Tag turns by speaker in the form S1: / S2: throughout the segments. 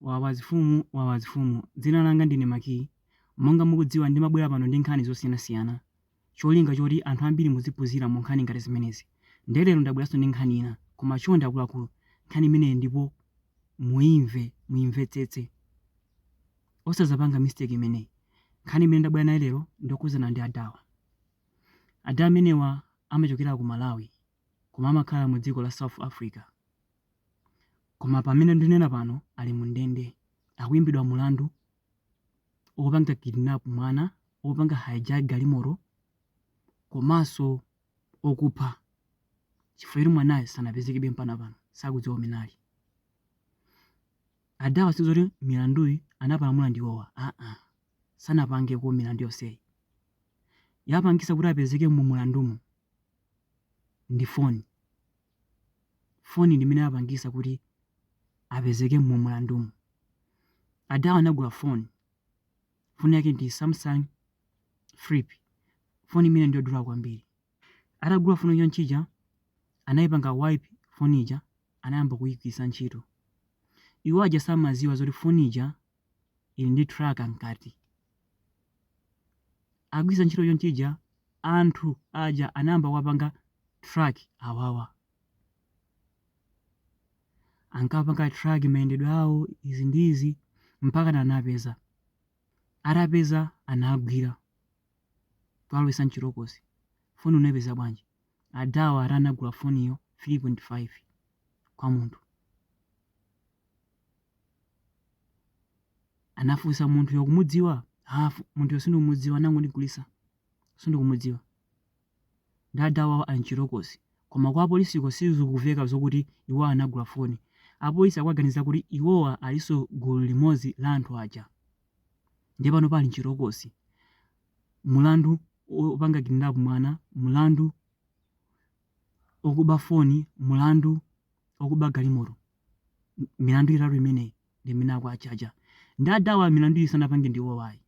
S1: Wawazifumu Wawazifumu Dzina langa ndine Maki. Monga mukudziwa ndimabwera pano ndi nkhani zosiyanasiyana cholinga choti anthu ambiri muziphunzira mu nkhani ngati zimenezi nde lero ndabweranso ndi nkhani ina koma chonde akuluakulu nkhani imeneyi ndipo muimve muimvetsetse osazapanga mistake imeneyi. Nkhani imene ndabwera nayo lero ndiyokhudzana ndi adawa. Ada amenewa amachokera ku Malawi. koma amakhala mu dziko la South Africa koma pamene ndinena pano ali mu ndende akuimbidwa mulandu opanga kidnap mwana opanga hijack galimoto komanso okupha chifukwa choti mwanayo sanapezekebe mpaka pano sakudziwa kumene ali adawa sizoti milanduyi anapalamula ndi iwowa aa sanapangeko milandu yonseyi yapangisa kuti apezeke mu mulandumu ndi foni. Foni ndi imene yapangisa kuti apezeke mu mulandumu. Adawa anagula foni. Foni yake ndi Samsung Flip. Foni imeneyi ndi yodula kwambiri. Atagula foni chonchi ija, anayipanga wipe foni ija, anayamba kuyigwiritsa ntchito. Iwo aja samaziwa zoti foni ija ili ndi tracker mkati. Agwiritsa ntchito chonchija, anthu aja anayamba kuwapanga track awawa. Ankawapanga track mayendedwe awo, izi ndi izi, mpaka na anapeza. Atapeza anagwira kuwalowetsa mchitokosi. Foni unapeza bwanji? Adawa ati anagula foniyo 3.5 kwa munthu. Anafunsa munthuyo ukumudziwa? Ah, munthuyo sindikumudziwa anangondigulisa. Sindikumudziwa. Ndi adawawa ali mchitokosi. Koma kwa apolisiko sizikuveka zokuti iwo anagula foni. Apolisi akuwaganiza kuti iwowa aliso gulu limodzi la anthu aja. Ndiye pano pali mchitokosi. Mulandu opanga kidnap mwana, mulandu okuba foni, mulandu okuba galimoto milandu itatu imeneyi ndi imene akuachaja nde adawa milandu iyi sanapange ndi iwowo ayi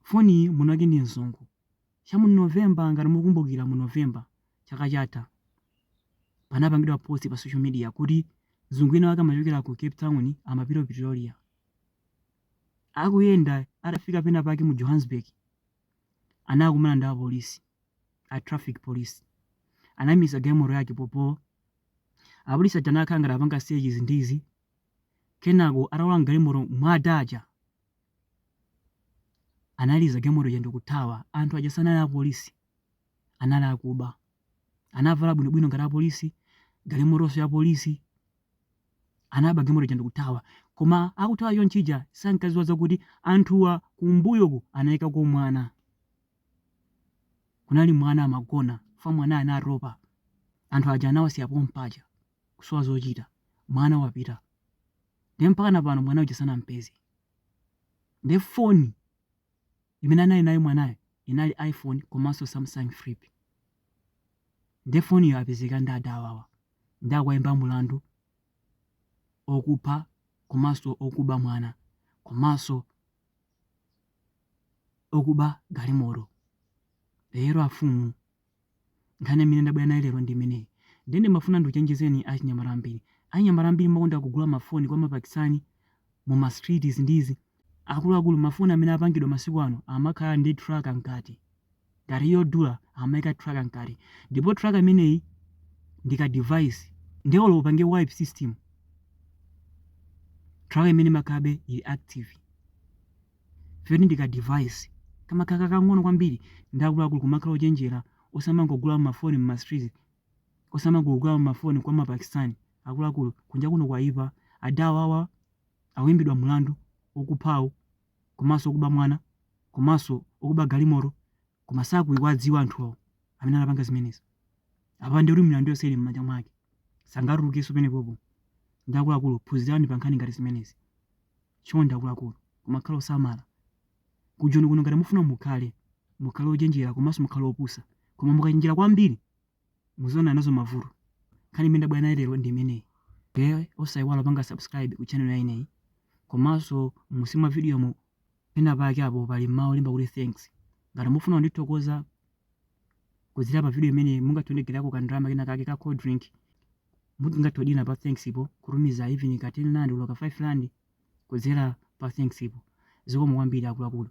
S1: foni iyi mwinake ndi mzungu cha mu november ngati mukumbukira mu november chaka chatha panapangidwa post pa social media kuti mzungu ina wake amachokera ku cape town amapita ku pretoria akuyenda atafika pena pake mu johannesburg anakumana ndi apolisi a traffic police anamuimitsa galimoto yake popo apolisi aja anakhala ngati akupanga search izi ndi izi kenako atatuluka mgalimoto muja ada aja analiza galimoto ija ndikuthawa anthu aja sanali apolisi anali akuba anavala bwinobwino ngati apolisi galimotonso ya polisi Anaba galimoto ija ndikuthawa. Koma akuthawa chonchija sankadziwa zakuti anthuwa kumbuyoku anayikako mwana. Kunali mwana amagona chifukwa mwanayo anatopa. Anthu aja anawasiya pompaja kusowa zochita. Mwana wapita. Ndiye mpakana pano mwana uja sanampeze. Ndiye foni. Imene anali nayo mwanayo inali iPhone komanso Samsung Flip. Nde foniyo apezeka nayo adawawa nde akuwaimba mulandu okupha komanso okuba mwana komanso okuba galimoto. Lero afumu Nkhani imene ndabwera nayo lero ndi imeneyi nde ndimafuna ndikuchenjezeni achinyamata ambiri. Achinyamata ambiri mumakonda kugula mafoni kwa mapakistani muma streets izi ndi izi. Akuluakulu mafoni amene apangidwa masiku ano amakhala ndi tracker mkati. Ngati yodula amaika tracker mkati. Ndipo tracker imeneyi ndi ka device nde olo upange wipe system tracker imeneyi imakhalabe ili active. Chifukwa ndi ka device kamakhala kakang'ono kwambiri nde akuluakulu kumakhala ochenjera osamangogula mafoni mma streets osamangogula mafoni kwa ma Pakistani akuluakulu kunja kuno kwaipa adawawa akuimbidwa mlandu okuphawu komanso okuba mwana komanso okuba galimoto koma sakuwadziwa anthuwo amene anapanga zimenezi apa ndekuti milandu yonse ili mmanja mwake sangatulukenso pamenepopo nde akuluakulu phunzirani pa nkhani ngati zimenezi. Chonde akuluakulu kumakhala osamala Ku Joni kuno ngati mufuna mukhale mukhale ochenjera komanso mukhale opusa koma mukachenjera kwambiri mudzaona nazo mavuto nkhani imene ndabwera nayo lero ndi imeneyi nde osaiwala kupanga subscribe ku channel yanga iyi komanso munsi mwa video mu pena pake apo pali mawu olemba kuti thanks ngati mufuna kundithokoza kudzera pa video imeneyi mungatiwonjezereko ka ndalama kena kake ka cold drink mutha kungodina pa thanks po kutumiza even ka 10 rand olo ka 5 rand kudzera pa thanks po zikomo kwambiri akuluakulu